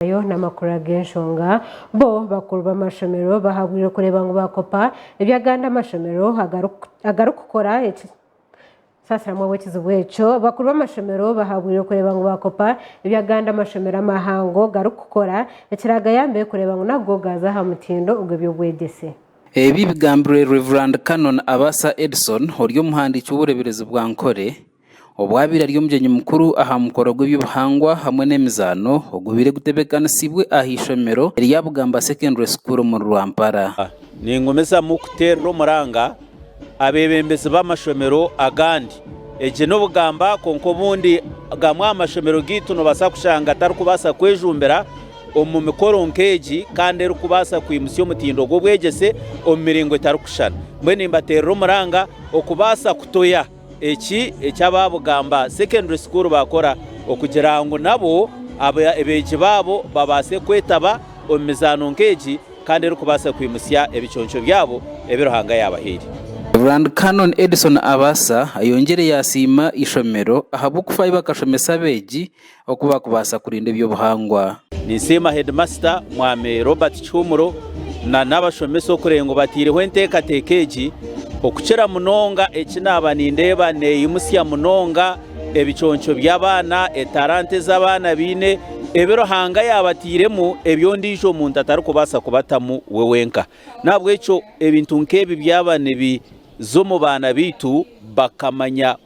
bayo n'amakuru ag'enshonga. Bo bakuru b'amashomero bahabwirwe kureeba ngu baakopa ebi agandi amashomero agarikukora. Saasiramu ab'ekizibu ekyo. Bakuru b'amashomero bahabwirwe kureeba ngu baakopa ebi agandi amashomero amahango garikukora ekiraagayambe kureeba ngu nago gaaza aha mutindo ogw'eby'obwegyese. Ebi bigambirwe Rev. Canon Abasa Edson ori omuhandiiki w'obureeberezi bwa Ankole, Obwabaire ari omugyenyi mukuru aha mukoro gw'eby'obuhangwa hamwe n'emizaano ogubaire gutebeekanisiibwe aha ishomero erya Bugamba Secondary School omuri Rwampara. Ningumizamu kuteerera omuranga abeebembezi b'amashomero agandi. Egi ni Bugamba kwonka obundi gamwe aha mashomero gaitu noobaasa kushanga tarikubaasa kwejumbira omu mikoro nk'egi kandi erikubaasa kwimutsya omutindo gw'obwegyese omu miringo etarikushushana. Mbwenu nimbateerera omuranga okubaasa kutoya Eki eki aba Bugamba Secondary School baakora okugira ngu nabo abeegi baabo babaase kwetaba omu mizaano nk'egi kandi erikubaasa kwimutsya ebiconco byabo ebi Ruhanga yaabahaire. Reverand Canon Edison Abasa ayongyire yaasiima eishomero ahabw'okufaayo bakashomesa abeegi oku baakubaasa kurinda eby'obuhangwa. Ninsiima heedimasita Mwami Robert Kihumuro na n'abashomesa okureeba ngu bataireho enteekateeka egi okukira munonga eki naaba nindeeba neeyimutsya munonga ebiconco by'abaana, etalanta ezi abaana baine, ebi Ruhanga yaabatairemu ebi ondiijo muntu atarikubaasa kubatamu we wenka. N'ahabw'ekyo ebintu nk'ebi byaba nibiza omu baana baitu bakamanya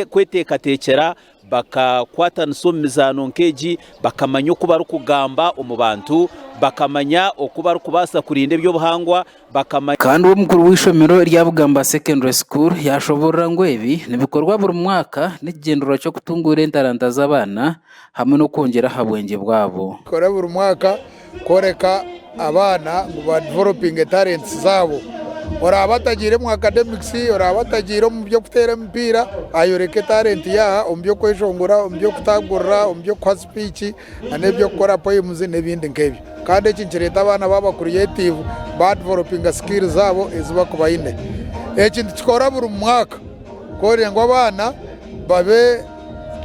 kweteekateekyera, Bakakwatanisa omu mizaano nk'egi, bakamanya oku barikugamba omu bantu, bakamanya oku barikubaasa kurinda eby'obuhangwa, bakamanya. Kandi w'omukuru w'eishomero rya Bugamba Secondary School yaashoboorora ngu ebi nibikorwa buri mwaka n'ekigyendererwa ky'okutunguura entaranta z'abaana hamwe n'okwongyera aha bwengye bwabo. Kora buri mwaka Kworeka abaana ngu ba developinge talents zaabo. Oraabe atagiire omu academics, oraabe atagiire omu by'okuteera emipiira, ayoreke talent ye aha omu by'okweshongora, omu by'okutagurira, omu by'okuha speech, na n'eby'okukora poems n'ebindi nk'ebyo. Kandi eki nikireeta abaana baaba creative, ba developinga skills zaabo ezi baku baine. Eki nitukikora buri mwaka, kwongyera ngu abaana babe.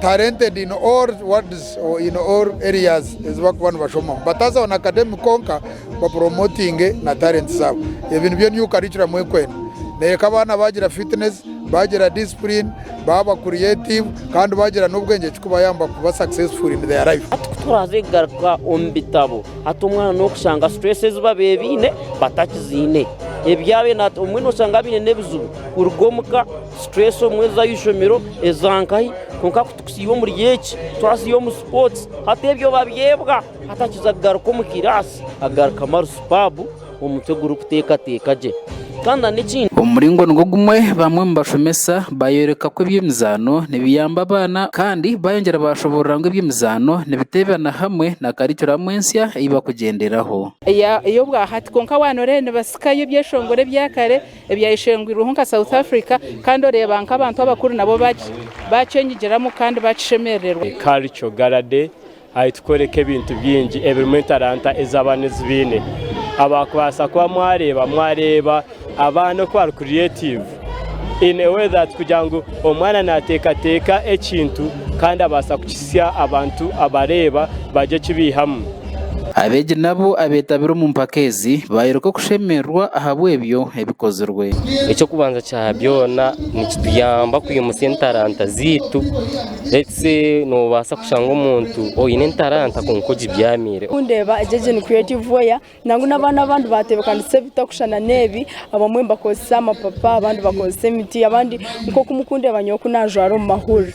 talented in all words or in all areas ezi bakuba nibashomamu bataza on academic konka ba promoting na talent zabo ebi nibyo new curriculum ekwenda neyeka abaana bagira fitness bagira discipline baba creative kandi bagira n'obwengye kikubayamba kuba successful in their life Hati ku turaze kugaruka omu bitabo, hati omwana n'okushanga stress ezi babaire baine batakiziine. Ebi yaaba aine hati, omwe n'oshanga abaire aine n'ebizibu kuruga omu ka, Situreesi obumwe eza aha ishomero, eza nkahi, kwonka ku tukusiiba omuri egi, twasiiba omu sipootsi, hati ebyo babyebwa. Hati akiza kugaruka omu kiraasi, agarukamu ari supaabu, omutwe gurikuteekateeka gye. Kandi n'ekindi. Omu muringo nigwo gumwe, bamwe omu bashomesa baayoreka ku eby'emizaano nibiyamba abaana kandi baayongyera baashoboorora ngu eby'emizaano nibiteebana hamwe na karikuramu ensya ei bakugyenderaho. Ey'obwahati. Kwonka waanoreeba nibatsikayo ebyeshongoro ebya kare ebyayeshengwirweho nka South Africa kandi oreeba nk'abantu abakuru nabo bakyenyigiramu kandi bakishemerererwa. Culture Gala Day ahi tukworeka ebintu bingi ebirimu entaranta ezi abaana ezi baine. Abakubaasa kuba mwareeba, mwareeba abaana oku bari creative in a way that kugira ngu omwana nateekateeka ekintu kandi abaasa kukitsya abantu abareeba bagye kibeihamu. Abeegi nabo abeetabire omu mpaka ezi baayoreka okushemererwa ahabw'ebyo ebikozirwe. Eky'okubanza kya byona nikituyamba kwimutsya entaranta zaitu. Noobaasa kushanga omuntu oine entaranta kwonka ogibyamiire. Ku ndeeba egyo egyo ni creative way nangwa n'abaana abandi baatebeekanisa ebitarikushushana n'ebi. Abamwe nibakoresa amapapa abandi nibakoresa emiti abandi nk'oku muri kundeeba nyowe oku naajwara omu mahurire.